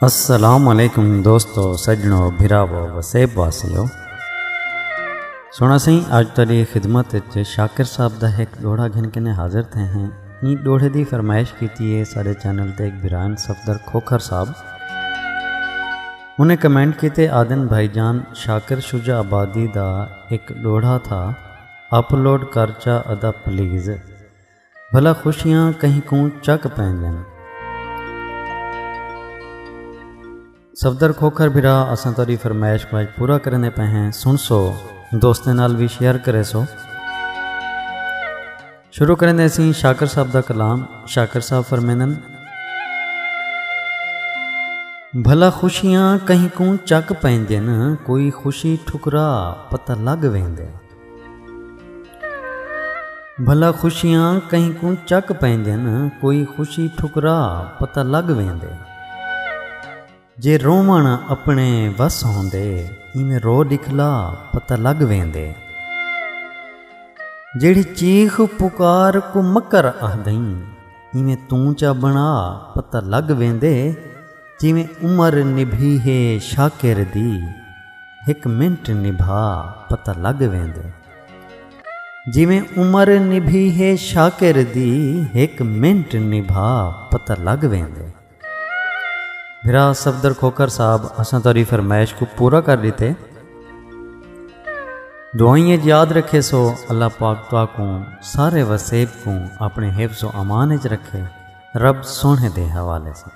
السلام علیکم دوستو سجنو بھراو وسیب واسیو سونا سائیں اج تیری خدمت وچ شاکر صاحب دا ایک ڈوڑا گھن کے حاضر تھے ہیں این ڈوڑے دی فرمائش کیتی ہے سارے چینل تے ایک بران صفدر کھوکھر صاحب انہیں کمنٹ کیتے آدن بھائی جان شاکر شجا آبادی دا ایک ڈوڑا تھا اپلوڈ کرچا ادا پلیز بھلا خوشیاں کہیں کوں چک پیندین۔ صفدر کھوکھر بھرا اساں تہاڈی فرمائش کوں اج پورا کریندے پئے ہیں سنڑسو دوستاں نال وی شیئر کریسو۔ شروع کریندے اسیں شاکر صاحب دا کلام شاکر صاحب فرمیندن۔ بھلا خوشیاں کہیں کوں چک پیندین کوئی خوشی ٹھکرا پتہ لگ ویندے۔ بھلا خوشیاں کہیں کوں چک پیندن کوئی خوشی ٹھکرا پتہ لگ ویندے جے رومن اپنے وس ہوندے ایویں رو دکھلا پتہ لگ ویندے جیڑی چیخ پکار کو مکر آہدیں ایویں توں چا بنا پتہ لگ ویندے جیویں عمر نبھی ہے شاکر دی ہک منٹ نبھا پتہ لگ ویندے جیویں عمر نبھی ہے شاکر دی ہک منٹ نبھا پتہ لگ ویندے بھرا صفدر کھوکھر صاحب اساں تہاڈی فرمائش کوں پورا کر ڈتے۔ دعائیں اچ یاد رکھے سو اللہ پاک تہاکوں سارے وسیب کوں اپنے حفظ و امان اچ رکھے رب سوہنے دے حوالے ساں۔